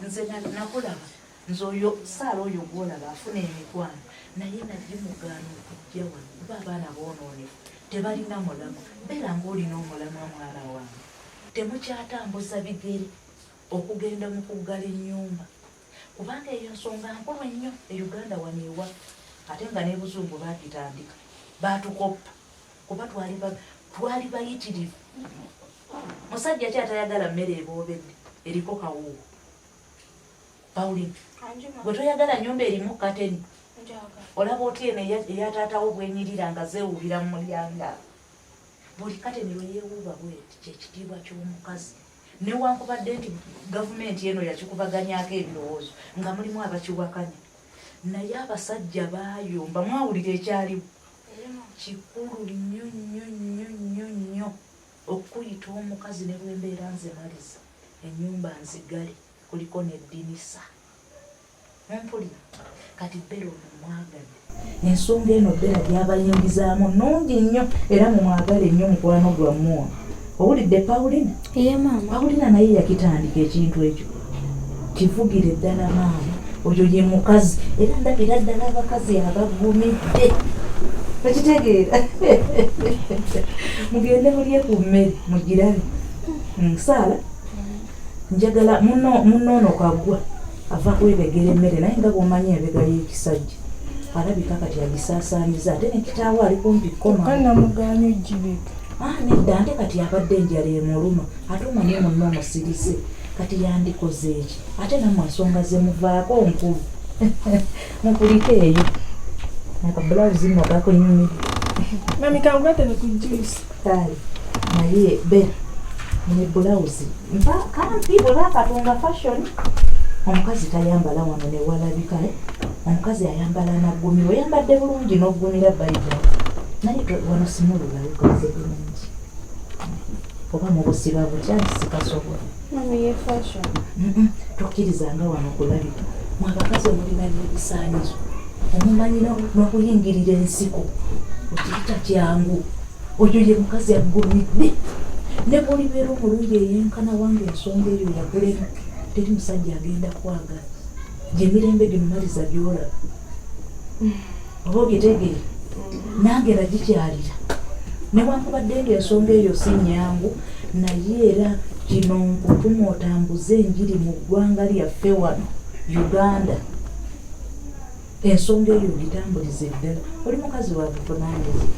nze nakulaba nze oyo saala oyo gwolaba afuna emikwano naye nagimugaana okujja wano kuba abaana boonoonefu tebalina mulamu beera ngaolina omulamu amwana wange temukyatambuza bigere okugenda mu kuggala ennyumba kubanga eyo nsonga nkulu ennyo e uganda wano ewa ate nga nebuzungu bagitandika batukoppa kuba twali ba- twali bayitirivu musajja ki atayagala mmere eboobedde eriko kawuuwo pauline Anjuma. gwe toyagala nnyumba erimu kateni Njaga. olaba otya eno eya- eya taata wo bwenyirira nga zeewuubira mu mulyango awo buli kateni lwe yeewuuba bweti kyekitiibwa ky'omukazi newankubadde nti gavumenti eno yakikubaganyaako ebirowoozo nga mulimu abakiwakanya naye abasajja baayomba mwawulira ekyaliwo kikulu nnyo nnyo nnyo nnyo nnyo okuyita omukazi ne lwembeera nze maliza enyumba nzigale kuliko neddinisa mumpulira kati bbera ono mwagadde ensonga eno bbera gyabayingizaamu nungi nnyo era mumwagale nnyo mukwano gwammwe owulidde paulina paulina naye yakitandika ekintu ekyo kivugire ddala maama oyo ye mukazi era ndabira ddala abakazi abagumidde okitegeera mugende mulye ku mmere mugirabe musaala mm, njagala munoono kagwa ava kwebegera emmere naye nga bwomanyi ebega y'ekisajja alabika kati agisaasaaniza ate nekitaawo ali kumpi kkomaanamugaanyo gibega Ah, nedda ante kati yabadde enjala emuluma ate omanyi munna omusirise kati yandikoze eki ate namwe ensonga zemuvaako nkulu mukulike eyo nakabulawuzi nno gakunyumire mami kangugatene ku juice kale naye be ne bulawuzi mpa kampi bweba katonga fashion omukazi tayambala wano newalabika eh? omukazi ayambala amaggumira oyambadde bulungi n'oggumira bayibuli naye wano simulula wekoze bulungi oba mubusiba butya nti sikasobola tokkirizanga wano kulabika mwabakazi omulina n'ebisaanyizo omumanyi n'okuyingirira ensiko okiyita kyangu oyo ye mukazi aggumidde ne bwolibeera omulungi eyenkana wange ensonga eyo yakulema teri musajja agenda kwagala gyemirembe gimumaliza gyolaba oba ogitegere nange nagikyalira newankubadde nga ensonga eyo si nyangu naye era kino nkutuma otambuze enjiri mu ggwanga lyaffe wano uganda ensonga eyo ogitambuliza eddala oli mukazi wakuvunaanyizibwa